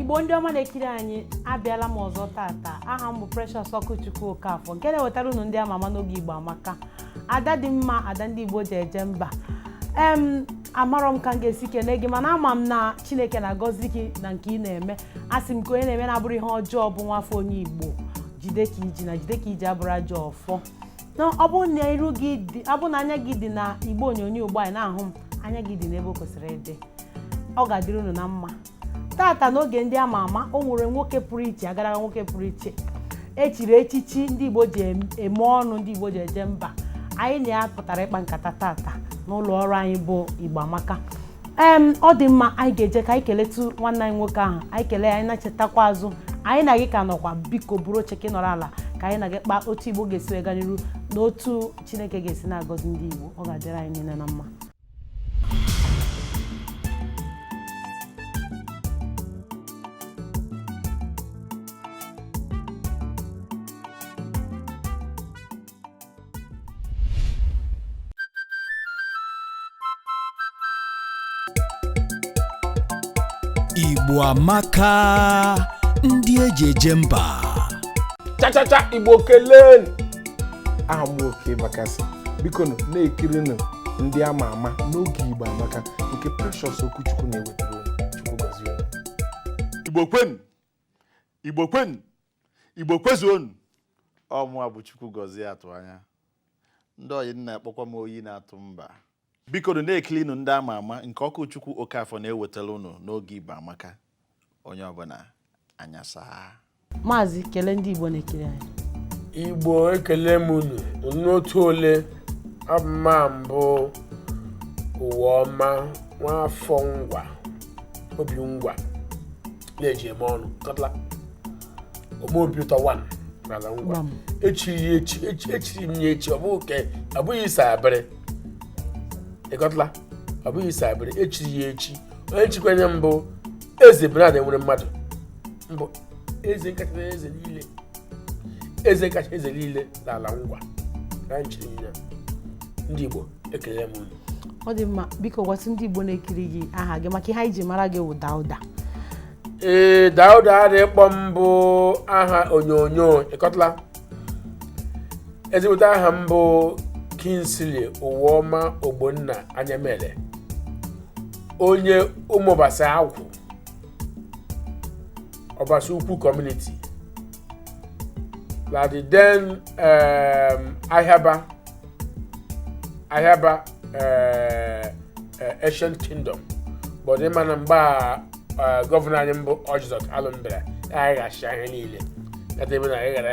igbo ndị ọma na-ekiri anyị abịala m ọzọ tata aha m bụ Precious Okwuchukwu Okafọ nke na-ewetara unu ndị ama ama n'oge igbo amaka ada dị mma ada ndị igbo ji eje mba em amarọ m ka m ga-esi kene gị mana ama m na chineke na-agọzi gị na nke ị na-eme a sị m ka onye na-eme na-abụrọ ihe ọjọọ bụ nwafọ onye igbo jide ka i ji na jide ka i ji abụrọ ajọ ọfọ na ọ bụrụ na iru gị dị ọ bụrụ na anya gị dị na igbe onyonyo ugbu a ị na-ahụ m anya gị dị n'ebe o kwesịrị ịdị ọ ga-adịrị unu na mma tata n'oge ndị ama ama o nwere nwoke pụrụ iche agaraga nwoke pụrụ iche e chiri echichi ndị igbo ji em- eme ọnụ ndị igbo ji eje mba anyị na ya pụtara ịkpa nkata tata n'ụlọ ọrụ anyị bụ igbo amaka em ọ dị mma anyị ga-eje ka anyị keletu nwanne anyị nwoke ahụ anyị kelee anyị na-echetakwa azụ anyị na gị ka nọkwa biko buru oche ka ị nọrọ ala ka anyị na gị kpaa otu igbo ga-esi wee gaa n'iru na otu chineke ga-esi na-agọzi ndị igbo ọ ga-adịrị anyị niile na mma Igbo amaka ndị eji eje mba chachacha igbo keleenụ aha m Okey Bakassi bikonụ na-ekirinụ ndị ama ama n'oge igbo amaka nke precious okwuchukwu na-ewetara unu chukwu gọzie unu. igbo kwenu igbo kwenu igbo kwezuonu ọ mụa bụ Chukwugọzie Atụanya ndị ọyị m na-akpọkwa m oyi na-atụ mba bikonụ na-ekilinu ndị ama ama nke Okwuchukwu okafọ na-ewetara unu n'oge igbo amaka onye ọbụla anya saa maazị kelee ndị igbo na-ekiri anyị igbo ekele m unu nọ otu ole ọ bụ mụa bụ Ụwaọma nwa afọ ngwa Obingwa na-eji eme ọnụ kọtala ome obi ụtọ one n'ala ngwa Gbam. e chiri ya echi echi- e chiri m ya echi ọ bụghị ke ọ bụghị isa abịrị ị kọtala ọ bụghị isa abịrị e chiri ya echi onye nchịkwanye mbụ eze Bernard Enweremadu mbụ eze kacha na eze niile eze kacha eze niile n'ala ngwa na nchiri m ya ndị igbo ekele m ọ dị mma biko gwatụ ndị Igbo na-ekiri gị aha gị maka ihe anyị ji mara gị wụ Dauda ee Dauda a dị akpọ m bụ aha onyonyo ị kọtala ezigbote aha m bụ Kingsley Ụwaọma Ogbonna Anyamele onye ụmụbasa agwụ ọbasa ukwu community na the then um, Ahịaba Ahịaba uh, uh, ancient kingdom but ịma na mgbe a uh, gọvanọ anyị mbụ Orji Uzor Kalu bịara anyị ga-achị ahịa niile edebe na anyị gara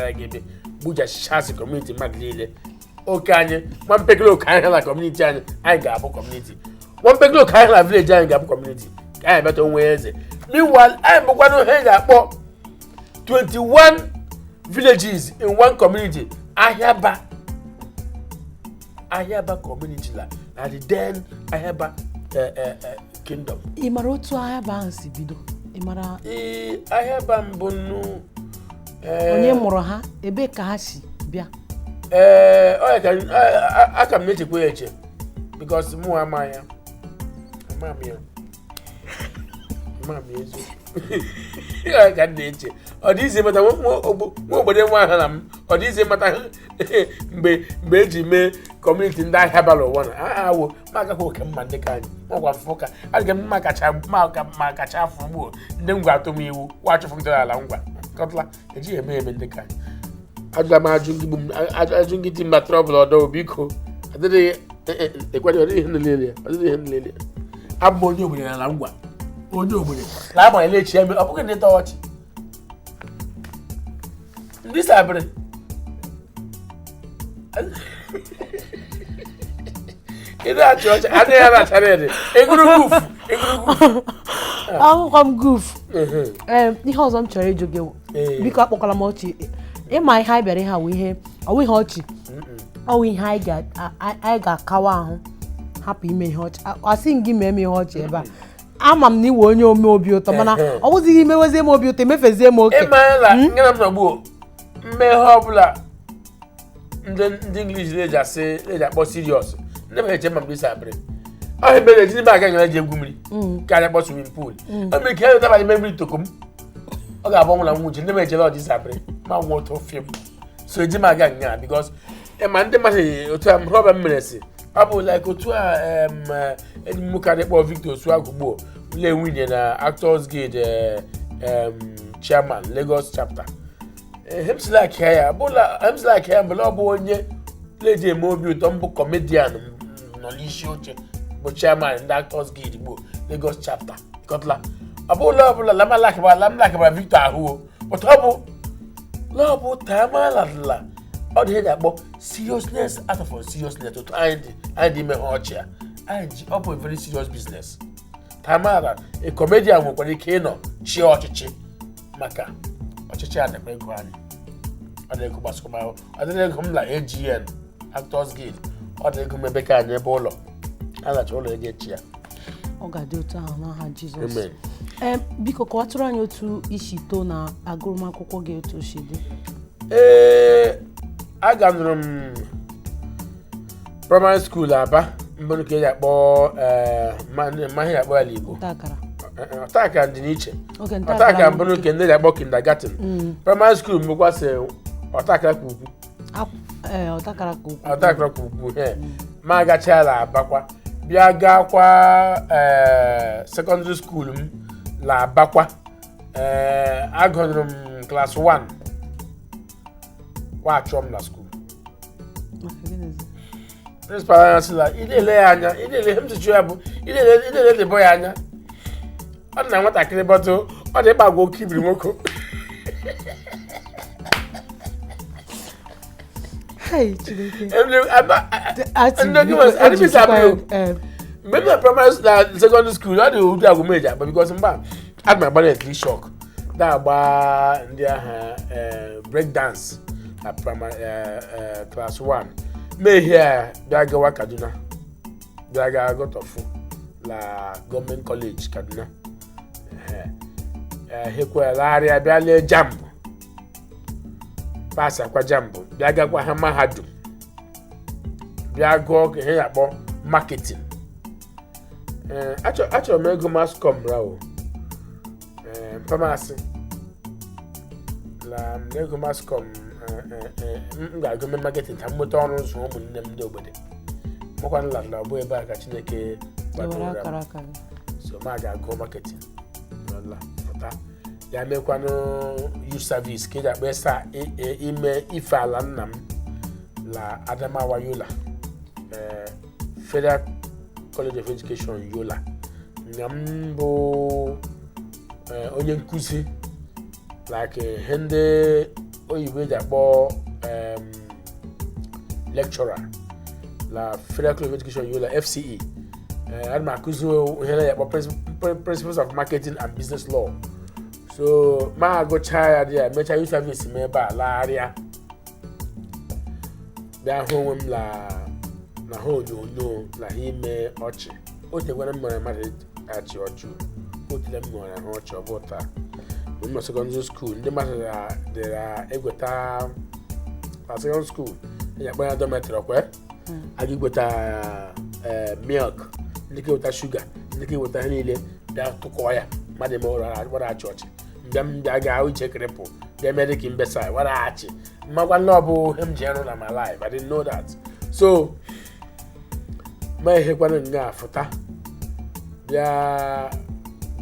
aga ebe gbujachasị kọmuniti mmadụ niile oke anyị nwa mpekele ọkala kọmuniti anyị anyị ga-abụ kọmuniti nwa mpekele ọkala vileji anyị ga-abụ kọmuniti ka anyị meta onwe eze meanwhile anyị bụkwanụ ihe anyị ga-akpọ 21 villages in one community ahịaba ahịaba community la na the then ahịaba eh, eh, eh, kingdom ị mara otu Ahịaba ahụ si bido ị mara ee Ahịaba mbụ nnu ee, onye mụrụ ha ebee ka ha si bịa ee ọ ya ka a- a- aka m na-echekwa ya eche bikos mụ ama ya ama m ya ama m ya eziokwu Ọ ya ka m na-eche ọ dị izi mata nwa nwa ogbo- nwa obodo nwa aha na m ọ dị izi mata mgbe mgbe eji mee kọmuniti ndị Ahịaba la ụwa na a awo ma agaghị oke mma ndị ka anyị ọgwa afụfụ ka adịghị mma kacha mma ka mma kacha afọ gbuo ndị ngwa atụ m iwu kwa achụfụ m la ala ngwa kọtla ejighị eme eme ndị ka anyị agwa m ajụ ndị bụ m- a- a- ajụ ndị dị mma trọbụl ọdọ biko adịghị ekweghị ọ dịghị ihe nlele ọ dịghị ihe nlele abụ m onye ogbenye n'ala ngwa onye ogbenye na agbanyeghị echi ya mere ọ bụghị na ịtọ ọchị ndị sabịrị ịdị achị ọchị anya ya na-achara ede egwuru golf egwuru golf ahụkwa m golf Ee, ihe ọzọ m chọrọ ịjụ gị Ee. biko akpọkwala m ọchị ịma ihe anyị bịara ihe awụ ihe ọwụ ihe ọchị ọwụ ihe anyị ga- a- a- anyị ga-akawa ahụ hapụ ime ihe ọchị A- asị m gị mee m ihe ọchị ebe a ama m na ị wụ onye ome obi ụtọ mana Ehe. ọ bụzighị imewezie m obi ụtọ emefezie m oke ịmara na nga m nọ gbuo m mee ihe ọbụla ndị ndị English na-eji asị na-eji akpọ serious ndị mmadụ eche ma mgbe isi abịrị ọ ihe mere ejighị m aga nga eji egwu mmiri ka anyị kpọ swimming pool o mere ka ya weta abalị mmiri toko m ọ ga-abụ ọnwụ na nwụ uche ndị mmadụ ejere ọdị isi abịrị ma nwụ otu film so eji m aga nya because ịma ndị mmadụ otu a problem mere si ọ bụ like otu a em, eh, enyi m nwoke adị akpọ victor osuagwu gbuo la ewinnie na actors guild eh, em, chairman lagos chapter hemslak ya bụla hemslak ya bụla ọ bụ onye na-eji eme obi ụtọ mbụ kọmedian nọ n'isi oche bụ chairman ndị actors guild gbuo lagos chapter kọtla ọ bụla ọbụla lamalakịbara lamalakịbara victor ahụ o but ọ bụ na ọ bụ ta amara la ọ dị ihe ga-akpọ seriousness out of seriousness otu anyị dị anyị dị ime ha ọchị a anyị ji ọ bụ a very serious business ta amara la a comedian nwekwara ike ịnọ chịa ọchịchị maka ọchịchị a na-eme ego anyị ọ na-ego gbasakwa adịrị ego m na AGN Actors Guild ọ dị ego m ebe ka anyị ebe ụlọ a na-achọ ụlọ ego echi ya ọ ga-adị otu ahụ n'aha jizọs Amen. Ee, biko kọwatụrụ anyị otu i si too na agụmakwụkwọ gị otu o si dị ee aganụrụ m primary school Aba mmanụ ka eji akpọ eh, ma- ma ihe akpọ ya la Igbo nta akara Eh, eh, ọta akara dị n'iche oge nta ọta akara mbụ nke ndị ji akpọ kindergarten primary school bụkwa sị ọta akara ka ukwu ee ọta akara ka ukwu ọta akara ka ukwu he ma agachaa la Abakwa bịa gaakwa eh, secondary school m la Abakwa Eh, agụnụrụ m class 1 nwa achụọ m na school Maka gịnịzi? principal anyị sị na ị na-ele ya anya ị na-ele ihe m jichụ ya bụ ị na-ele ị na-ele ndị bọ ya anya ọ dị na nwatakịrị but ọ dị ịgbagwa oke ibiri nwoke Hai, Chineke. Ndị- ama- a- a- Ati, ndị oge nwere- adịghị m isi abụghị. eh, mgbe m na primary na secondary school ọ dị ụdị egwu m eji agba because mgba ana m agba electric shock na-agba ndị ahụ eh, break dance na prima- eh, eh, class 1 mehie a bịa gawa Kaduna bịa gaa gụtọfụ la Government College Kaduna ehekwa lagharịa bịa lee JAMB passakwa JAMB bịa gakwa ha mahadum bịa gụọkwa ihe ya akpọ marketing ee achọ- achọrọ m ịgụ mass comm rawo ee mpa m asị la m agụ mass comm ee, ee, ee, m ga-agụ mme marketing ka m nweta ọrụ zụọ ụmụnne m ndị ogbede amakwanụ la ọ bụ ebe a ka Chineke Ewere gbadoro m akara aka gị. so ma ga-agụ marketing n'ụlọ pụta ya mekwanụ youth service nke eji akpọ sị i- i- ime ife ala nna m la Adamawa Yola ee Federal College of Education Yola nga m bụ eh, onye nkụzi like eh, ihe ndị oyibo eji akpọ em, lecturer na Federal College of Education Yola FCE Eh, ana m akụzi ihe a na-akpọ principles of marketing and business law so ma agụchaa ya dị ya mechaa youth service m ebe a lagharịa bịa hụ onwe m na na ha onyonyo na ha ime ọchị o tegwara m mara mmadụ achị ọchị o tere m mara ha ọchị ọ bụ taa mgbe m nọ sekọndịrị skuul ndị mmadụ dịra egweta na sekọndịrị skuul anyị akpọ ya dọmetrị ọkwe aga iweta eh, milk ndị ga eweta shuga ndị ga eweta ihe niile bịa tụkọọ ya mmadụ eme wara achị ọchị mbịa m bịa ga ahụ iche krịpụ bịa mee dịka mbesa wara achị mmakwa na ọ bụ ihe m ji arụ na my life I didn't know that so ma ehekwana nga afụta bịa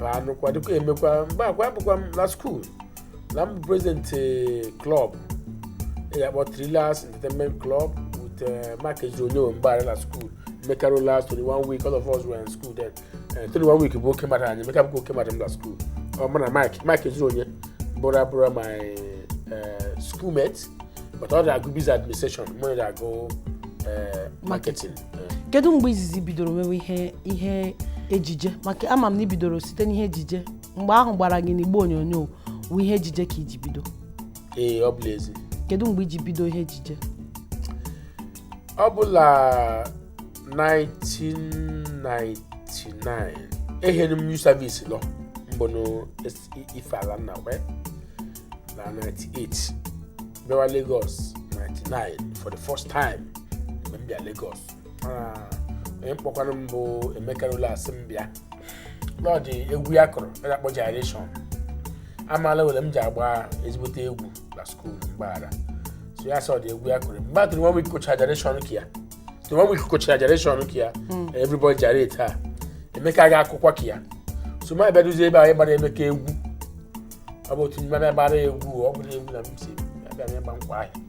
baa nụkwa dịkwa emekwa mgbe akwa abụkwa m na skuul na m bụ prezident klọb a na-akpọ Thrillers entertainment club with Mike Ezuruonye mgbe anyị na skuul Emeka Rollas Tony One Week all of us were in school then Eh, Tony One Week bụ oke mmadụ anyị Emeka bụkwa oke mmadụ m na skuul ọ mụ na Mike Mike Ezuruonye bụrụ abụrụ my eh, schoolmate but ọ na-agụ business administration mụ na agụ eh, marketing Eh, kedu mgbe izizi i bidoro mewe ihe ihe ejije maka ama m na i bidoro site n'ihe ejije mgbe ahụ gbara gị n'igbe onyonyo wụ ihe ejije ka i ji bido ee ọ bụ n'ezi kedu mgbe i ji bido ihe ejije ọ bụ na 1999 ehere m youth service lọ mbọnụ ife ala nna wee na 98 bịawa Lagos 99 for the first time mgbe m bịa Lagos mana onye kpọkwara m bụ Emeka Rollas sị m bịa na ọ dị egwu ya kụrụ a na-akpọ gyration amaala nwo na m ji agba ezigbote egwu na skuul mgbe ahụ so ya sị ọ dị egwu ya kụrụ mgbe ahụ Tony One Week kụchara gyration nke ya Tony One Week kụchara gyration nke ya everybody gyrate Emeka aga akụkwuo nke ya so m abịa duzie ebe anyị gbara Emeka egwu ọ bụ otu mmadụ gbara egwu ọ bụla egwu na m si abịa m ịgba nkwa ahịa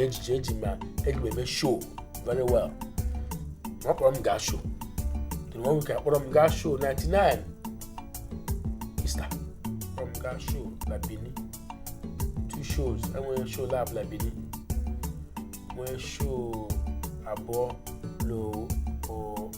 ejije eji ma eji m eme show very well ọ kpọrọ m gaa show Tony One Week akpọrọ m gaa show 99 Easter kpọrọ m gaa show na Benin two shows enwere show laabọ na Benin nwee show abụọ na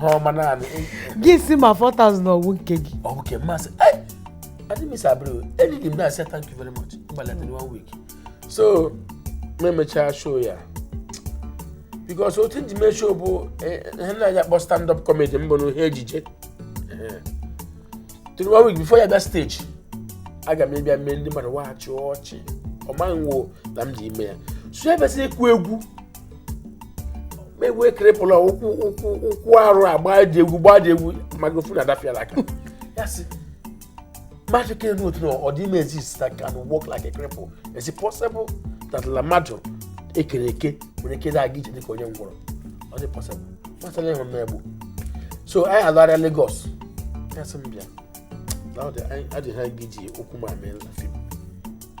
ha ọma naanị gị sị m 4000 ọ wụ nke gị ọ bụ nke m m asị "Ei, adị m isi abịrị o eriri m na-asị thank you very much ị gbaala Tony One Week so m emechaa show ya because otu m ji mee show bụ eh, ihe anyị na-akpọ stand up comedy mbọnụ ihe ejije Tony One Week before ya bịa stage aga m ịbịa mee ndị mmadụ wa achị ọchị ọ maghị nwo na m ji ime ya so ya bịasị ịkụ egwu egwu cripple ụkwụ ụkwụ ụkwụ arụ agba ji egwu gbaa ji egwu microphone adafia la aka ya sị mmadụ ka enu otu na ọ dị ime exist that can walk like a cripple is it possible that la mmadụ ekere eke nwere ike na-aga ije dịka onye ngwọrọ ọ dị possible mmadụ na-enwe m egbu so anyị alarịa Lagos ya sị m bịa na ọ dị anyị adịghị anyị ga-eji ụkwụ m a mee na film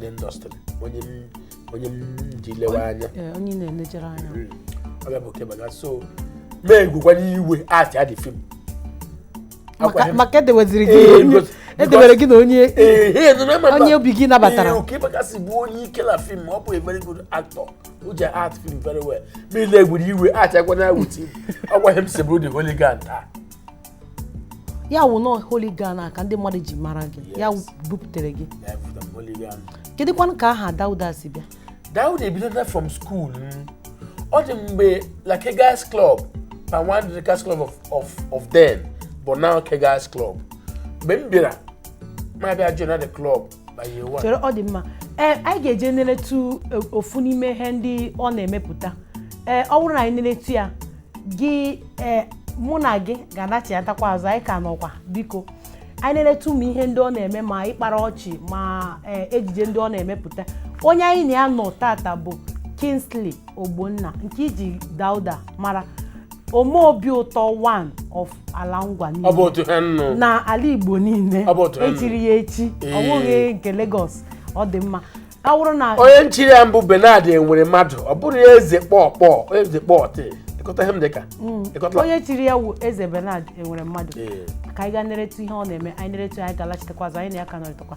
n'industry onye m onye m ji lewe anya Ee, onye na-elejere anya ọ ga-abụ Okey Bakassi so mee gwukwana iwe asị adị film maka maka edeweziri gị Ee, onye- because- edewere gị na onye onye obi gị nabatara. Okey Bakassi bụ onye ike na film ọ bụ a very good actor o ji act film very well ma ile gwuru iwe achakwana with him ọgwa m si bụrụ the hooligan taa ya wụ na ọ hooligan a ka ndị mmadụ ji mara gị ya Yes. bupụtere gị Ya efuta m hooligan. kedụkwanụ ka aha dauda si bịa Dauda ebidola from school m. ọ dị mgbe la Kegites Club Palm Wine Drinkers Club of, of, of then but now Kegites Club mgbe m bịara ma bịa join the club chere ọ dị mma ee anyị ga-eje nleretu e, ofu n'ime ihe ndị ọ na-emepụta ee ọ bụrụ na anyị nleretu ya gị ee mụ na gị ga-anachiatakwa azụ anyị ka nọkwa biko anyị nleretu ụmụ ihe ndị ọ na-eme ma ịkpara ọchị ma ee ejije ndị ọ na-emepụta onye anyị na ya nọ tata bụ Kingsley Ogbonna nke iji Dauda mara ome obi ụtọ one of ala ngwa ọ bụ niile otu ha nnụ na ala igbo niile Ọ bụ otu ahụ. echiri ya echi Ee. ọ bụghị nke Lagos ọ dị mma ọ bụrụ na onye nchiri ya mbụ Bernard Enweremadu ọ bụrụ ya eze kpọọ kpọọ eze kpọọ tị ịkọta ihe m dịka ịkọta onye chiri ya wụ eze Bernard Enweremadu Ee. ka anyị gaa neretu ihe ọ na-eme anyị neretu ya, anyị ga-alachitekwa azụ anyị na ya ka nọrịtakwa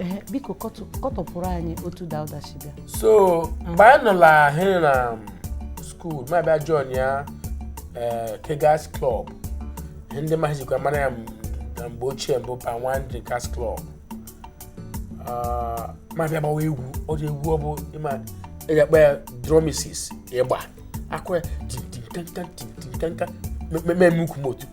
Ee, biko kọtụ- kọtọpụrụ anyị otu dauda si bịa so mgbe anyị nọla ahụ na school m abịa join ya eh, Kegites Club ihe ndị mmadụ jikwa mara ya m- na mgbe ochie mbụ Palm Wine Drinkers Club Ah, m abịa gbawa egwu ọ dị egwu ọ bụ ịma eji akpa ya drumisis ịgba akụwa tintinkanka tintinkanka m emewe ukwu m otu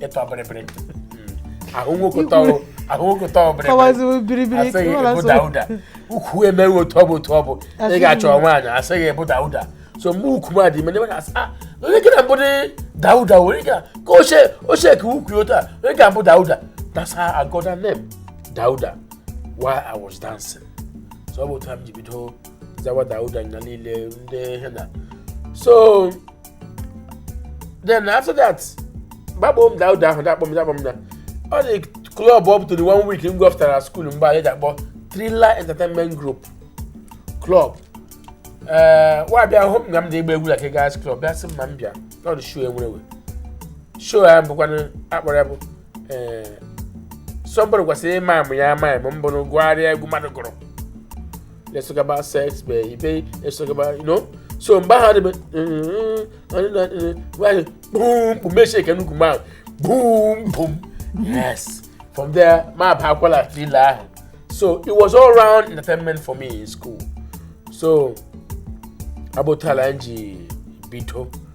ịtọ bịrịbịrị ahụ nwoke tọrọ ahụ nwoke tọrọ bịrịbịrị kọwaziwe biribiri asị gị kọwara ị bụ Dauda nsogbu. ukwu emewe otu ọ bụ otu ọ bụ ị Asịghị ga-achọ m. nwaanyị asị gị ị bụ Dauda so mgbe ukwu m a dị ime ndị mmadụ asị "Ah, onye gị na mbụ the Dauda original ka oche oche ka ukwu ya otu a onye ga mbụ dauda that's how I got that name dauda while I was dancing so ọ bụ otu a m ji bido zawa dauda na niile ndị ihe na so then after that ba akpọ m Dauda ahụ da-akpọ m da-akpọ m na ọ dị club about one week m gafetara school mgbe anyị da-akpọ Thriller Entertainment Group club ee nwa bịa hụ m nga m da-agba egwu na Kegites club bịa sị m ma m bịa na ọ dị show e nwere show ya bụkwanụ akpọrọ ya bụ ee eh, somebody kwesịrị ị-mime ya mime bụ ị gụgharịa egwu mmadụ gụrụ let's talk about sex baby let's talk about you know so mgbe ahụ adịbe bum bum me shake nnukwu mmanụ bum bum yes from there ma abakwala Thriller ahụ so it was all round entertainment for me in school so ọ bụ otu a la m ji bido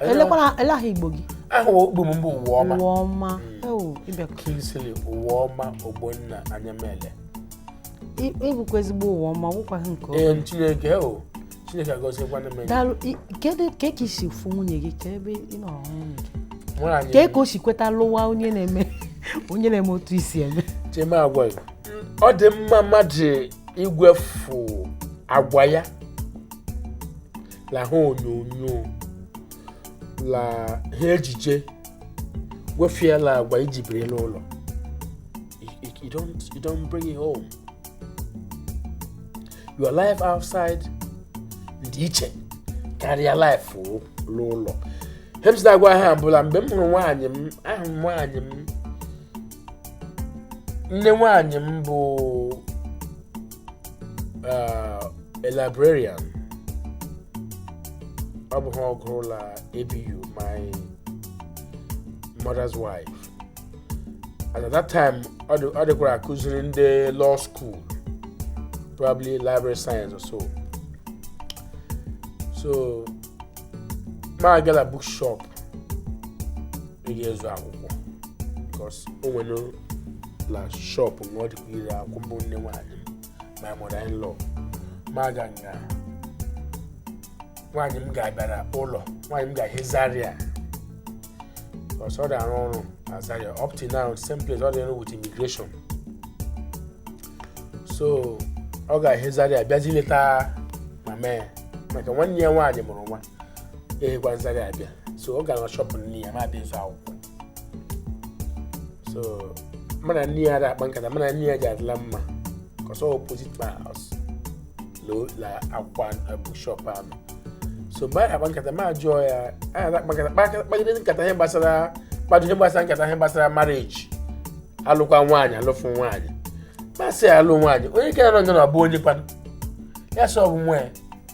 elekwara ele aha Igbo gị aha Igbo m bụ Ụwaọma Ụwaọma ewu ịbịa Kingsley Ụwaọma Ogbonna Anyamele ị- ị bụkwa ezigbo ụwa ọma wụkwa nke ọma ee chineke o chineke agọziekwana m daalụ i- kedu ka ka i si fụ nwunye gị ka ebe ị nọrọ hụ nwunye gị nwaanyị ka ka o si kweta lụwa onye na-eme onye na-eme otu i si eme chema agwa gị ọ dị mma mmadụ igwefu agwa ya la ihe onyonyo la ihe ejije wefie la agwa i ji biri n'ụlọ You- you- you don't you don't bring it home your life outside dị iche karịa life o- l'ụlọ ihe m si da-agwa ha bụ la mgbe m hụrụ nwaanyị m ahụ m nwaanyị m nne nwaanyị m bụ uh, a librarian ọ bụ ihe ọ gụrụ la ABU my mother's wife and at that time ọ dị- ọ dịkwara akụziri ndị law school probably library science or so so ma agala bookshop ga ịzụ akwụkwọ because o nwerela shop na ọ dịkwa ere akwụkwọ bụ nne nwaanyị m my mother in law ma aga nga nwaanyị m ga-abịara ụlọ nwaanyị m ga-ahị Zaria because ọ dị-arụ ọrụ na Zaria up to now same place ọ dị-arụ with immigration so ọ ga-ahị Zaria bịazi leta mama ya maka nwanne ya nwaanyị mụrụ nwa ahịkwa Zaria abịa so ọ gara shop nne ya ma abịa ịzụ akwụkwọ so mụ na nne ya ada akpa nkata mụ na nne ya ji adịla mma cos ọ opposite my house l'ụlọ akwụkwọ ahụ bookshop ahụ so mgbe anyị akpa nkata ma jụọ ya anyị ada akpa nkata kpa- kpagide nkata ihe gbasara kpado ihe gbasara nkata ihe gbasara marriage alụkwa nwaanyị alụfụ nwaanyị ma asị ya alụ nwaanyị onye kere nọ na ọ bụ onye kwanụ ya sị ọ bụ nwa ya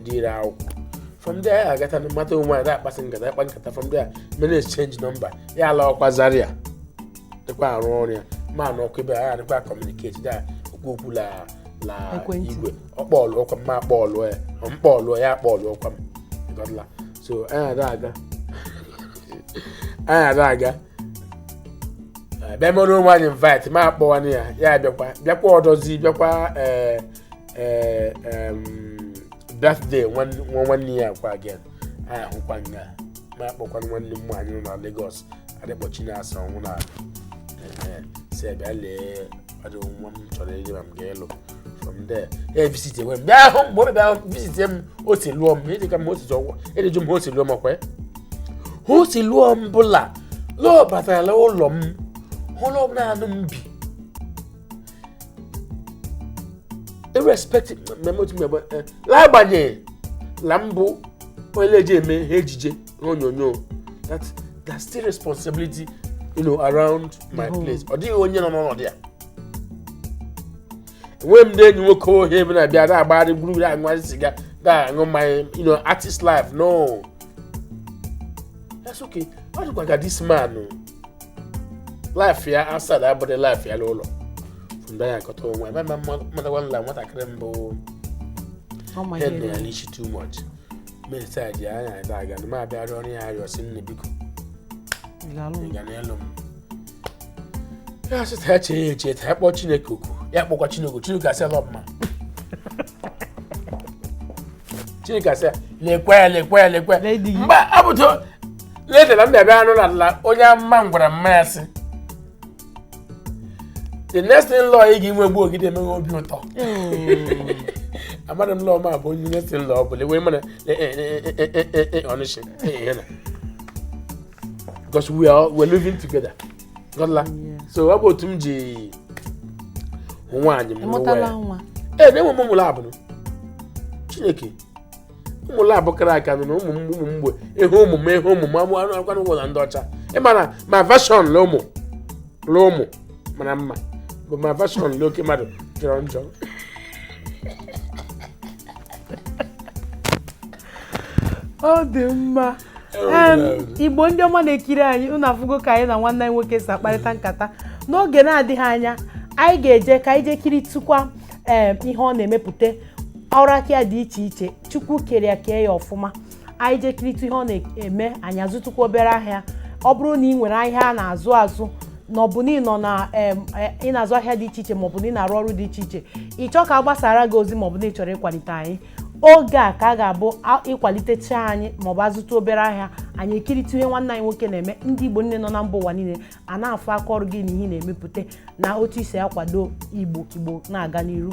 ndị ire akwụkwọ from there ya agata na mata onwe anyị na-akpasị nkata akpa nkata from there mere exchange number ya alaa ọkwa Zaria dịkwa arụ ọrụ ya m anọkwa ebe a anyị dịkwa communicate da ekwu okwu la la Ekwentị. igwe ọ kpọọlụ ọkwa m m akpọọlụ ya ọ m kpọọlụ ya akpọọlụ ọkwa m ị ghọtala so anyị ada aga anyị ada aga Eh, bịa mere onwe anyị invite m akpọwanụ ya ya bịakwa bịakwa ọdọzi bịakwa ee ee em, birthday nwan- nwa nwanne ya kwa again anyị ahụkwa nga m akpọkwa nwanne m nwaanyị nọ na Lagos a dị akpọ Chinasa ọnwụ na ee, sị bịa lee ọdụ nwa m chọrọ ịlụ ma m ga-alụ from there e visit enwe m bịa hụ m mgbe ọ bịa hụ m visit m o si lụọ m ịdị ka m o si ọ wụ ị dị ajụ m o si lụọ m ọkwa ya o si lụọ m bụ la la ọ batara ụlọ m hụrụ na naanị m bi irrespective mmemme otu mmemme eh, n'agbanyeghị na m bụ onye na-eji eme ihe ejije ihe onyonyo that that's still responsibility you know, around my place ọ dịghị onye nọ n'ọnọdụ ya enweghị m ndị enyi nwoke ohe ebe na-abịa na-agbagharị gburugburu aṅụgharị siga na-aṅụ mmanya you know, artist life no that's okay ọ dịkwa ka this man o. life ya outside abụghị life ya n'ụlọ from there ya akọta onwe ebe ma mmadagwa nla nwatakịrị mbụ ọ ma ihe hen na ya rere. n'ichi too much mesa ji anya ebe aga na m abịa rịọ ya arịrịọ sị nne biko Ị ga-alụ m? ị ga-alụ m ya sị ta ya chee ya eche ta ya kpọọ chineke oku ya kpọkwa chineke oku, chineke asị la ọ bụ m Chineke sị lekwe lekwe lekwe mgbe ọ bụ ta later na m bịa bịa anụ na la onye amụma gwara mma ya sị the next in-law ị ga-enwe bụ ọ ga-adị eme gị obi ụtọ amadị m la ọ mụ bụ onye next in-law bụ l'onwe m honestly because we are we're living together Ghọtala? so ọ bụ otu m ji hụ nwaanyị m unu amụtala nwa ee na enwe m ụmụ labụ chineke ụmụ labụ kara aka nụ na ụmụ m ụmụ mgbe ị hụ ụmụ m ị hụ ụmụ m amụ anụ akwa n'ụgwọ na ndị ọcha ị ma na my version la ụmụ la ụmụ mara mma but my version la oke mmadụ jọrọ njọ ọ dị mma Igbo ndị ọma na-ekiri anyị unu afụgo ka anyị na nwanne anyị nwoke si akparịta nkata n'oge na-adịghị anya anyị ga-eje ka anyị jee kiritụkwa ihe ọ na-emepụta ọrụ aka ya dị iche iche chukwu kere ya kee ya ọfụma anyị jee kiritụ ihe ọ na-eme anyị azụtụkwa obere ahịa ọ bụrụ na ị nwere ahịa a na-azụ azụ na ọ bụ na ị nọ na e, ị na-azụ ahịa dị iche iche maọbụ na ị na-arụ ọrụ dị iche iche ị chọọ ka a gbasara gị ozi maọbụ na ị chọrọ ịkwalite anyị oge a ka a ga-abụ a- ịkwalitecha anyị maọbụ azụtụ obere ahịa anyị ekiritụ ihe nwanne anyị nwoke na-eme ndị igbo niile nọ na mba ụwa niile a na-afụ aka ọrụ gị na ihe ị na-emepụta na otu i si akwado igbo ka igbo na-aga n'iru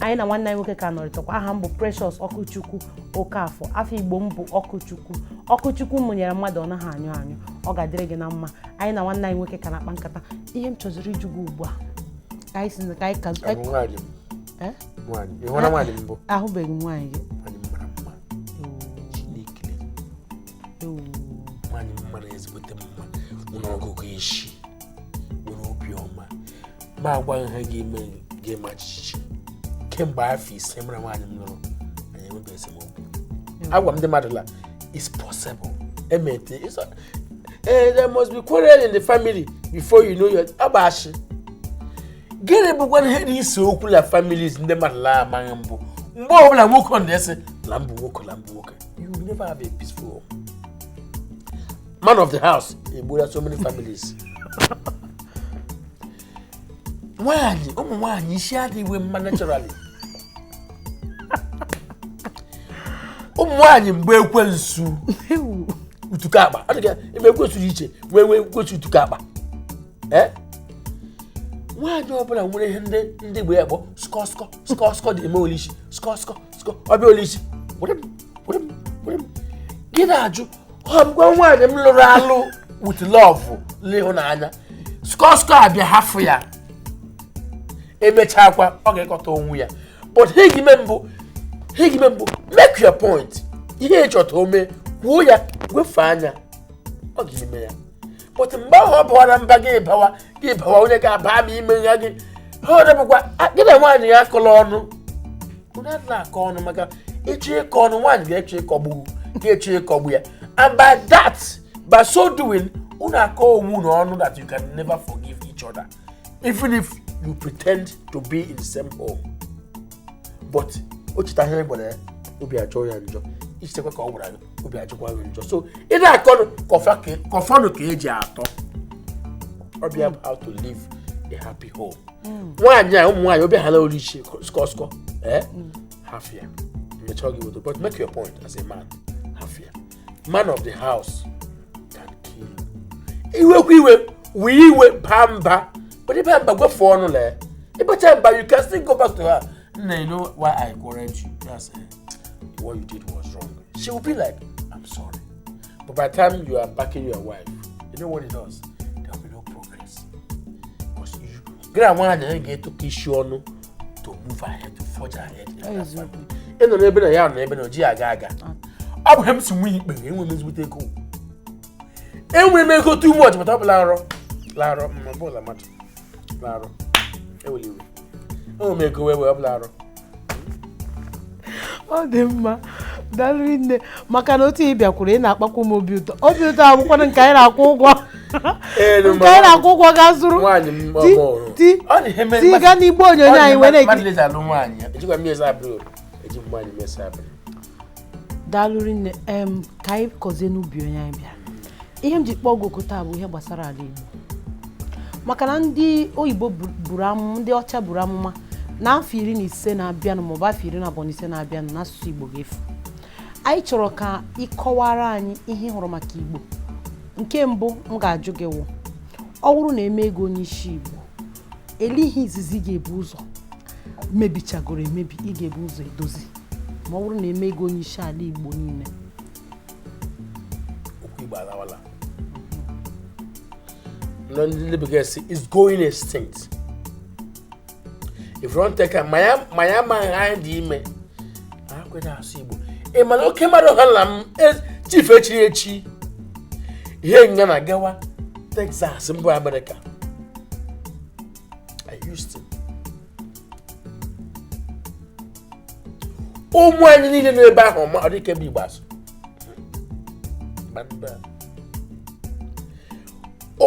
anyị na nwanne anyị nwoke ka nọrịtakwa aha m bụ Precious Ọkụchukwu Okafọ afa Igbo m bụ Ọkụchukwu ọkụ Chukwu mụnyere mmadụ ọ naghị anyụ anyụ ọ ga-adịrị gị na mma anyị na nwanne anyị nwoke ka na-akpa nkata ihe m chọziri ịjụ gị ugbu a ka anyị si na ka anyị ka Abụ nwaanyị m. Eh? nwaanyị ị hụla nwaanyị mbụ ahụbeghị m nwaanyị gị nwaanyị m mara mma chineke ewu nwaanyị m mara ezigbote mma nwere ọgụgụ isi nwere obi ọma m agwa gị ihe ga-eme gị maa jijiji kemgbe afọ ise mụ la nwaanyị m lụrụ anyị enweghị esemokwu agwa m ndị mmadụ la it's possible emete it's a- eh, there must be quarrel in the family before you know your ọ bụ ashị gịnị bụkwa ihe na-ese okwu la families ndị mmadụ la-amaghị bụ mgbe ọbụla nwoke ọ na-asị la m bụ nwoke la m bụ nwoke you will never have a peaceful home man of the house egbuola so many families nwaanyị ụmụ nwaanyị isi adịghị mma naturally ụmụ nwaanyị mgbe ekwensu utuka akpa ebe ekwensu dị iche wee wee ekwensu utuka akpa ee nwaanyị ọbụla nwere ihe ndị ndị igbo ya kpọ skọ skọ skọ skọ dị eme ya l'isi skọ skọ skọ ọ bịa ya l'isi were m were m were m gị na-ajụ ọ bụkwa nwaanyị m lụrụ alụ with love n'ịhụnanya skọ skọ abịa hafụ ya emechakwa ọ ga-ekọta onwe ya but ihe ị ga-eme bụ ihe ị ga-eme bụ make your point ihe ị chọ ka o mee kwuo ya wefu anya ọ ga-eme ya but mgbe ahụ ọ bawara mba gị bawa gị bawa onye ga-aba ma ime ya gị ha ọ dịbụkwa a- di na nwaanyị ya akọla ọnụ unu adịla akọ ọnụ maka ị chọ ịkọ ọnụ nwaanyị ga-achọ ịkọgbu ga-achọ ịkọgbu ya and by that by so doing unu akọ onwe unu ọnụ that you can never forgive each other even if you pretend to be in the same home but o cheta ihe ị gwara ya obi ajọọ ya njọ i chetakwa ka ọ gwara gị obi ajọkwa gị njọ so ị na-akọnụ kọfanụ ka e ji atọ ọbịa hmm. how to live a happy home hmm. nwaanyị a ụmụ nwaanyị obi ha na olu iche skọ skọ eh? hmm. hafụ ya mechaa gị wodo but make your point as a man hafụ ya man of the house can kill you. iwekwa iwe wee iwe baa mba but ebe mba gwefu ọnụ lee ịbacha mba you can still go back to her nna you know why i quarreled you that's it what you did was wrong she will be like i'm sorry but by the time you are backing your wife you know what it does there will be no progress because you gị ra nwaanyị gị ga-etikọ isi ọnụ to move ahead to forge ahead in that family. ị nọ n'ebe na ya nọ n'ebe na o ji ya aga aga ọ bụ ihe m si nwe ikpe enwere m ezigbote ego enwere m ego too much but ọ bụ larọ larọ mma ọ bụla mmadụ larọ ewele iwe enwere m ego wee wee ọ bụ larọ ọ dị mma daalụ rinne maka na otu ị bịakwuru ị na-akpakwu m obi ụtọ obi ụtọ abụkwana nke anyị na-akwụ ụgwọ nke anyị na-akwụ ụgwọ ga zụrụ ti ti ga n'igbe onyonyo anyị wee na-ekiri daalụ rinne em ka anyị kọzie n'ubi onye anyị bịara ihe m ji kpọọ gị oku taa bụ ihe gbasara ala Igbo maka na ndị oyibo bu- buru amụma ndị ọcha buru amụma na afọ iri na ise na-abịanụ maọbụ afọ iri na abụọ na ise na-abịanụ na asụsụ Igbo ga-efu anyị chọrọ ka ị kọwara anyị ihe ị hụrụ maka Igbo nke mbụ m ga-ajụ gị wụ ọ bụrụ na e mee gị onye isi Igbo elee ihe izizi ị ga-ebu ụzọ mebichagoro emebi ị ga-ebu ụzọ edozi ma ọ bụrụ na e mee gị onye isi ala igbo niile okwu igbo alawala ndị bekee sị it's going extinct if you wan take am maya maya ma ha dị ime ị ma na oke mmadụ ha na m e, chief e chiri echi ihe nga na gawa Texas mbụ Amerịka ụmụ anyị niile nọ ebe ahụ ma ọ dị ike bụ igbo asụ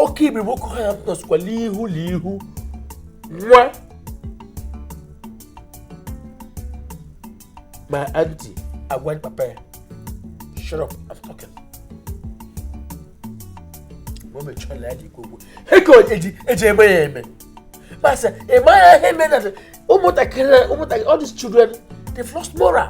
oke ibu boko haram nọsịkwala ihu na ihu nwa My auntie, I went papa. Shut up, I'm talking. Mama chọrọ ya dị kwukwu. Ego eji eji eme ya eme. Masa, ị mara ihe mere na ụmụntakịrị ụmụntakịrị all these children they've lost moral.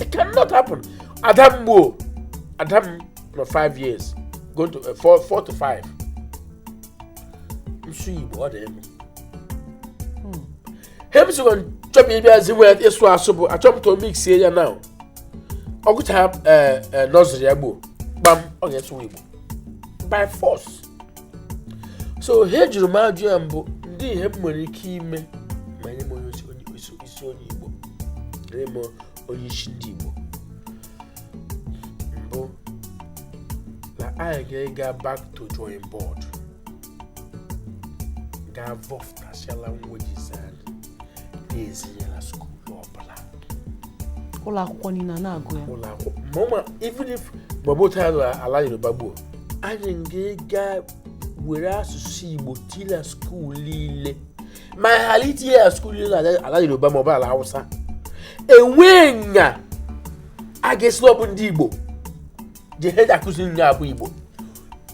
it cannot happen ada m gbuo ada m nọ 5 years going to 4 uh, to 5 na-asụ igbo ọ dị elu hmm. ihe m sịkwa chọbụ ịbịa zi nwee ịsụ asụ bụ achọ to mix ya na ọ gụchara eh, eh, nursery ya gboo gbam ọ ga-asụwa igbo by force so ihe jụrụ m ajụ ya mbụ ndị ihe m nwere ike ime ma nye m onye isi onye igbo nye m onye isi ndị igbo mbụ na anyị ga-ega back to drawing board gaa vọfụtasịa languages na-ezinye na skuulu ọbụla ụlọ akwụkwọ niile a na-agụ ya ụlọ akwụkwọ ma ụma even if ọ bụ otu anyị lụrụ ala yoruba gbuo anyị ga-ega were asụsụ igbo tinye na skuul niile ma anyị ghara itinye ya na skuul niile ala- ala yoruba ma ọ bụ ala hausa enwee nya a ga-esi na ọ bụ ndị igbo ji ihe eji akụzi ihe a bụ igbo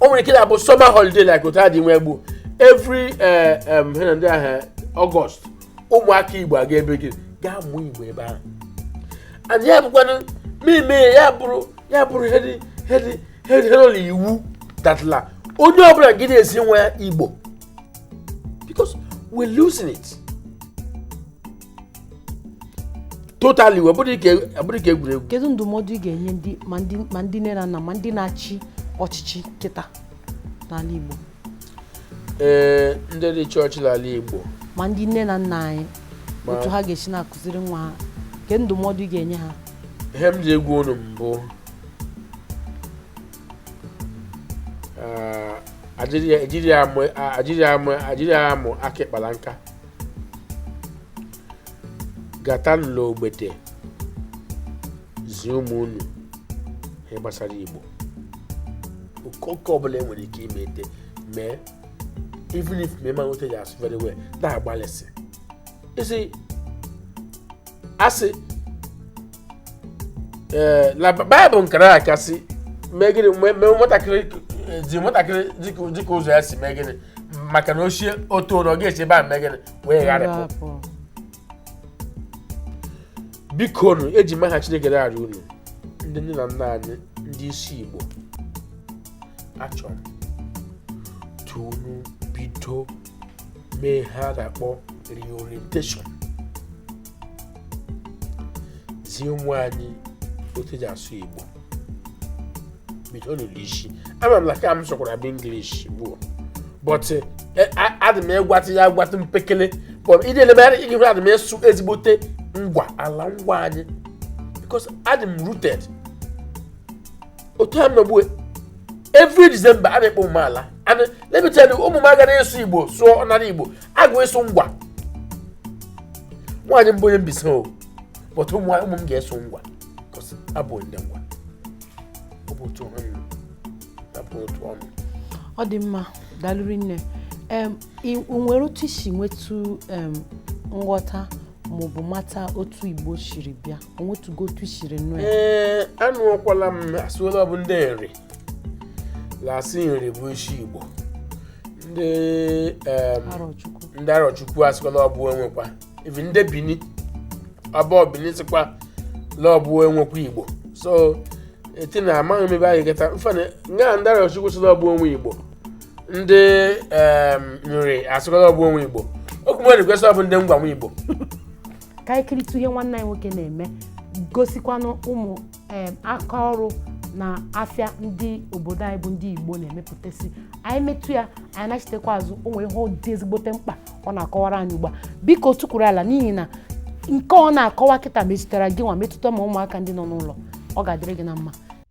o nwere ike na-abụ summer holiday like otu a dị nwe gbuo every eh, em, he na ndị ahụ August ụmụaka igbo aga ebe gị gaa mụọ igbo ebe ahụ and ya bụkwanụ mmemme ya bụrụ ya bụrụ ihe dị ihe dị ihe dị ihe nọ n'iwu that la onye ọbụla gị na-ezi nwa ya igbo because we're losing it totally ọ bụghị ihe ọ bụghị ihe egwuregwu kedu ndụmọdụ ị ga-enye ndị ma ndị ma ndị nne na nna ma ndị na-achị ọchịchị kịta n'ala Igbo ee ndị dị chọọchị n'ala Igbo ma ndị nne na nna anyị Ma- otu ha ga-esi na-akụziri nwa ha kedu ndụmọdụ ị ga-enye ha ihe m ji agwa unu mbụ ah, ajiri ya- ajiri ya amụ- ah, ajiri ya amụ- ajiri ya amụ aka ịkpa la nka gata n'ụlọ ogbete zie ụmụ unu ihe gbasara igbo okoke ọbụla e nwere ike ime ete mee even if ma ị maghị otu eji asụ very well na-agbalịsị isi asị ee na bible kara aka sị mee gịnị mee mee nwatakịrị zi nwatakịrị dịka dịka ụzọ ya si mee gịnị maka na ochie otu ụlọ ga-esi ebe a mee gịnị wee gharịpụ Rapụ. biko nụ eji m aha chineke na-arịọ unu ndị nne na nna anyị ndị isi igbo achọrọ m ka unu bido mee ihe a na-akpọ reorientation zie ụmụ anyị otu eji asụ igbo bido n'ụdị isi ama m na ka m sụkwara bụ english bụ but adị m agwatụ ya agwatụ mpekele but ịdị elemegharị ị ga-ehụ adị m asụ ezigbote ngwa ala ngwa anyị because adị m rooted otu a nọgbu every december a na-ekpo ụmụ m ala and let me tell you ụmụ m agaghị ịsụ igbo sụọ ọnara igbo agụ ịsụ ngwa nwaanyị m bụ onye mbaise o but ụmụ ụmụ m ga-asụ ngwa because ha bụ ndị ngwa ọ bụ otu ọnụ abụ otu ọnụ ọ dị mma daalụ rinne em, i- o nwere otu i si nwetụ em, nghọta maọbụ mata otu igbo siri bịa o nwetụgo otu i siri nụ ya ee anụọkwala m a sị la ọ bụ ndị nri la-asị nri bụ isi igbo ndị em, arọchukwu ndị arọchukwu asịkwa la ọ bụ we nwekwa even ndị bini ọba of bini sịkwa la ọ bụ we nwekwa igbo so eti na amaghị m ebe anyị gata mfana nga ndị arọchukwu sị la ọ bụ we nwe igbo ndị nri asịkwa la ọ bụ we nwe igbo okwu mmadụ kwesị ọ bụ ndị ngwa nwe igbo ka anyị kiritụ ihe nwanne anyị nwoke na-eme gosikwanụ ụmụ aka ọrụ na afịa ndị obodo anyị bụ ndị igbo na-emepụtasị anyị metụ ya anyị nachitekwa azụ o nwere ihe dị ezigbote mkpa ọ na-akọwara anyị ugbu a biko tukwuru ala n'ihi na nke ọ na-akọwa kịta metụtara gị nwa metụta ma ụmụaka ndị nọ n'ụlọ ọ ga-adịrị gị na mma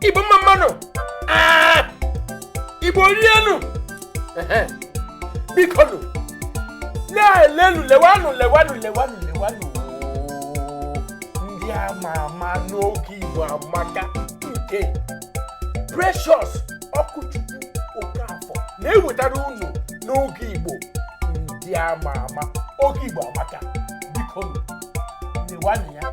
igbo mma mma nụ Ah! igbo rienụ Ehe. biko nụ na-elenu lewanụ lewanụ lewanụ lewanụ ndị ama ama n'oge igbo amaka nke precious okwuchukwu okafọ na-ewetara unu n'oge igbo ndị ama ama oge igbo amaka biko nụ lewanụ ya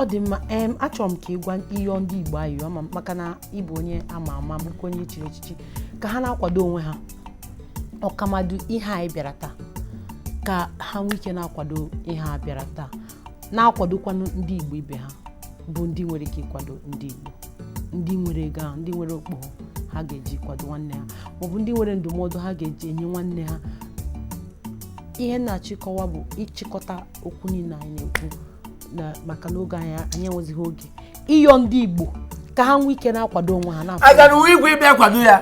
ọ dị mma em achọrọ m ka ị gwa ị yọọ ndị Igbo ayịyọ ma maka na ị bụ onye ama ama bụkwa onye chiri echichi ka ha na-akwado onwe ha ọkamadu ihe anyị bịara taa ka ha nwee ike na-akwado ihe a bịara taa na-akwadokwanụ ndị Igbo ibe ha bụ ndị nwere ike ịkwado ndị Igbo ndị nwere ego ahụ ndị nwere okpogho ha ga-eji kwado nwanne ha maọbụ ndị nwere ndụmọdụ ha ga-eji enye nwanne ha ihe m na-achọ ịkọwa bụ ịchịkọta okwu niile anyị na-ekwu na maka n'oge anyị anyị enwezighị oge ịyọ ndị Igbo ka ha nwee ike na-akwado onwe ha na-akwado agara we ikwe ịbịa kwado ya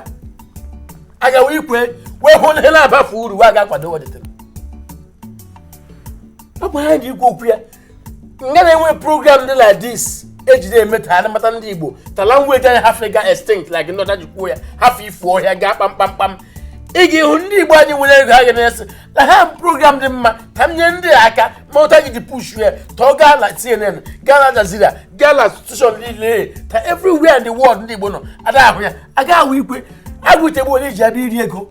aga we ikwe wee hụ na ihe na-abafe uru wee aga kwado welitere ọ bụ ha ji ikwu okwu ya nga na-enwe program dị like this ejide emeta ha mata ndị igbo ta language anyị hafe ga extinct like ndị ọcha ji kwuo ya hafe ifu ọhịa gaa kpamkpamkpam ị ga-ịhụ ndị igbo anyị nwere ego ha ga na-asị na ha program dị mma ka m nye ndị a aka ma ụta gị ji push ya ta ọ gaa na cnn gaa na al jazeera gaa na station niile ta everywhere in the world ndị igbo nọ ada ahụ ya aga we ikwe agwụtegbu onye ji abịa iri ego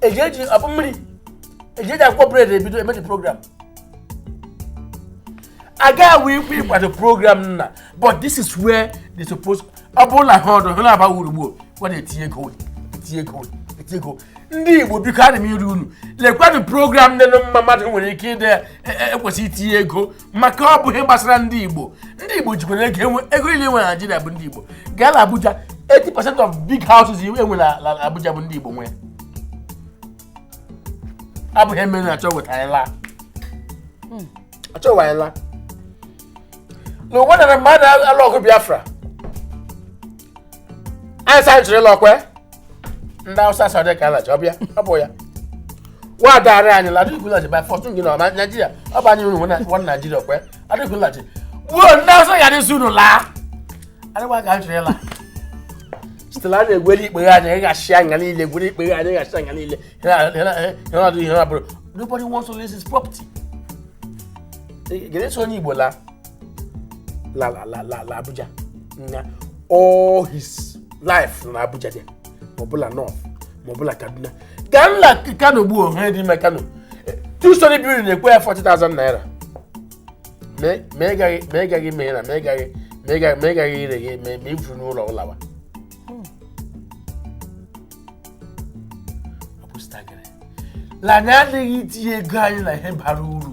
eji eji akpụ mmiri eji eji akwụkwọ bread ebido emeji program agaghị enwe ike ịkwado program nna but this is where they suppose ọ bụrụ na ha ọdụ ha aba wurugburu gwa na-etinye ego etinye ego etinye ego ndị igbo biko adị m ịrịọ unu lekwanụ program dị mma mmadụ nwere ike ịdị ekwesị itinye ego maka ọ bụ ihe gbasara ndị igbo ndị igbo jikwara ego enwe ego niile enwe na naijiria bụ ndị igbo gaa na abuja 80 percent of big houses enwe na na abuja bụ ndị igbo nwe abụghị eme na achọ weta anyị laa achọ weta anyị laa na ụwa na mgbe adị alụ ọgụ biafra anyị sa jiri lọkwe ndị awụsa sọdị ka alachi ọbịa ọ bụ ya wa adagharị anyị la adịghị kwulachi by fortune gị na naijiria ọ bụ anyị unu nwe naijiria kwe adịghị kwulachi gbuo ndị awụsa ya dịzi unu laa adịgwa ka anyị jiri la sitela anyị egwere ikpeghe anyị anyị ga-achị anya niile egwere ikpeghe anyị ga-achị anya niile ihe ọdụ ihe ọbụrụ nobody wants to lose his property ga-eso onye igbo laa la la la la la abuja na all his life na abuja dị ma ọ bụ la north ma ọ bụ la kaduna gaa nla kano gbuo ha dị ime kano two storey building na-ekwe ya 40,000 naira ma ị gaghị ma ị gaghị mee na ma ị gaghị ma ị gaghị ma ị gaghị ire gị ma ma ifuru n'ụlọ ụlawa ọ bụ staggering. la anyị adịghị itinye ego anyị na ihe bara uru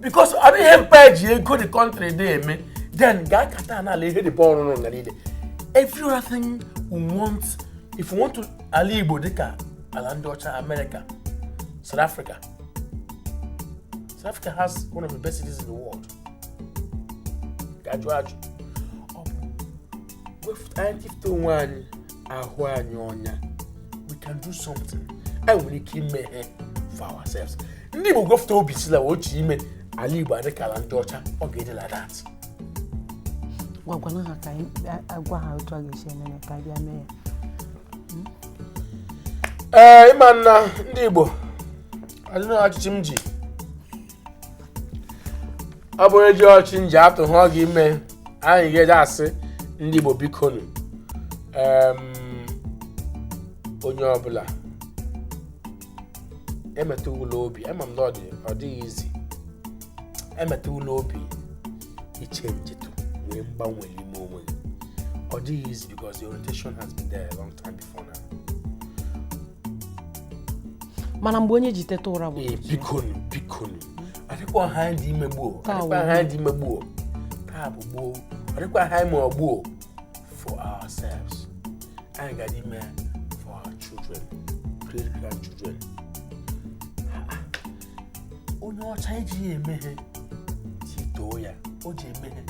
because ọ dịghị mkpa eji ego the country dị eme then gaa kata n'ala ihe dịbe ọrụrụ nga niile every other thing we want if we want to ala igbo dịka ala ndị ọcha america south africa south africa has one of the best cities in the world gaa jụọ ajụ anyị tifute onwe anyị ahụ anyị ọnya we can do something anyị nwere ike ime ihe for ourselves ndị Igbo gwefụta obi sị la ọ chọ ime ala Igbo adịka ala ndị ọcha ọ ga-adị like that gwagwana ha ka anyị agwa ha otu a ga-esi eme ya ka anyị bịa mee ya ee ịma na ndị Igbo adị na ọchịchị m ji ọ bụrụ eji ọchị nji atụ ha ọ ga-ime anyị ga-eji asị ndị Igbo bikonu onye ọbụla emetụwula obi ama m na ọ dịghị easy emetụwula obi ịchenjetụ nwee mgbanwe n'ime onwe gị ọ dịghị easy because the orientation has been there a long time before now mana mgbe onye ji teta ụra bụ ee bikonu bikonu adịkwa ha anyị dị ime gbuo Taa adịkwa wụ. ha anyị dị ime gbuo taa bụ gboo adịkwa ha anyị ma ọ gbuo for ourselves anyị ga ime for our children great grandchildren Ha, ha. onye ọcha ejighị eme ihe sị too ya o ji eme ihe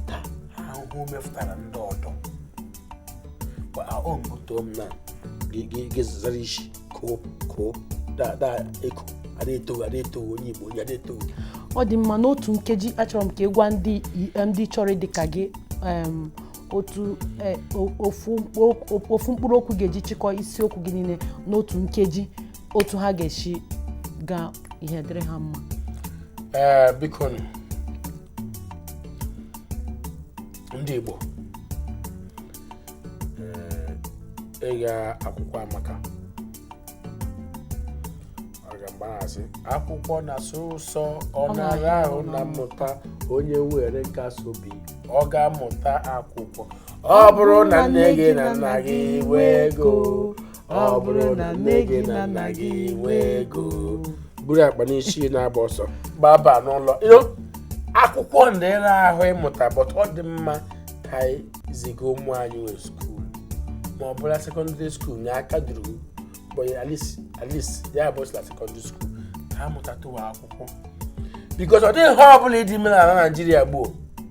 taa ha ahụhụ mefụtara ndị ọdọ Kwa ahụ m too m na gị- gị- gị zara isi koo koo da da eko a da eto gị a da eto gị onye igbo onye a da eto gị ọ dị mma n'otu nkeji achọrọ m ka ị gwa ndị i- ndị chọrọ dị ka gị em, otu eh, o- ofu mkpụ- o- ofu mkpụrụ okwu ga-eji chịkọ isiokwu gị niile n'otu nkeji otu ha ga-esi gaa ihe dịrị ha mma ee biko nụ ndị Igbo ịga akwụkwọ amaka mgbe ha sị akwụkwọ na-asọ ụsọ ọ na-ara ahụ na mmụta onye nwere nkasi obi ọ ga-amụta akwụkwọ ọ bụrụ na nne gị na nna gị nwee ego ọ bụrụ na nne gị na nna gị nwee ego buru akpa n'isi na-agba ọsọ gbaba n'ụlọ You know, akwụkwọ dị ịra ahụ ịmụta but ọ dị mma ka anyị ziga ụmụ anyị we skuul ma ọ bụla sekọndịrị skuul nye aka duru but at least at least ya bụsịla sekọndịrị skuul ka ha mụtatụwa akwụkwọ bikos ọ dịghị ha ọbụla ị dị ime n'ala naijiria gbuo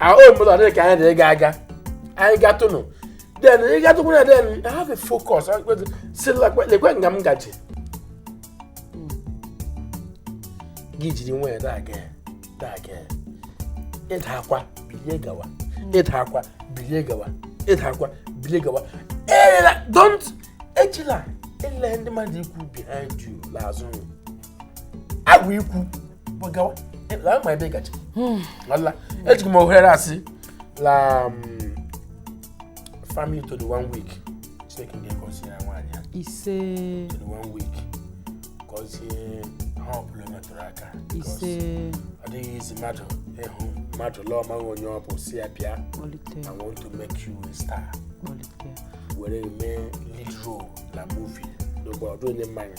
our own mother dey carry the gaga anyị gatụnụ then ị gatụkwu na then I have a focus ị ga-asị lekwe lekwe nga m gaji gị jiri nwee na-aga ya na-aga ya ị daakwa bilie gawa ị daakwa bilie gawa ị daakwa bilie gawa elela don't ejila ele ndị mmadụ ikwu behind you n'azụ ha ga ikwu eji m ohere a sị la um, family to the one week chineke ga-egosi ya nwaanyị ya ise to the one week gọzie ha ọbụla metụrụ aka ise ọ dịghị easy mmadụ ịhụ mmadụ lụọ maghị onye ọ bụ si ya bịa I want to make you a star were mee lead role na movie n'ụgbọ ọdụ onye mmanya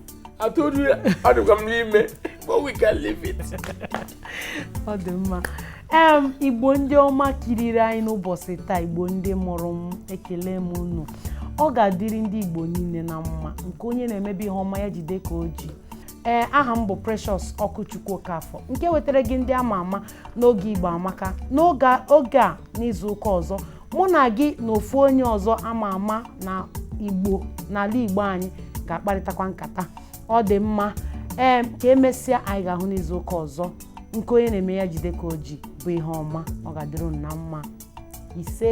I told you adịkwa m n'ime but we can leave it. ọ dị mma em igbo ndị ọma kiriri anyị n'ụbọchị taa igbo ndị mụrụ m ekele m unu ọ ga-adịrị ndị igbo niile na mma nke onye na-emebe ihe ọma ya jide ka o ji ee aha m bụ precious ọkụchukwu okafọ nke wetara gị ndị ama ama n'oge igbo amaka n'oge a- oge a n'izu ụka ọzọ mụ na gị na ofu onye ọzọ ama ama na igbo n'ala igbo anyị ga-akparịtakwa nkata ọ dị mma ee ka emesịa anyị ga-ahụ n'izu ụka ọzọ nke onye na-eme ya jide ka o ji bụ ihe ọma ọ ga-adịrị unu na mma ise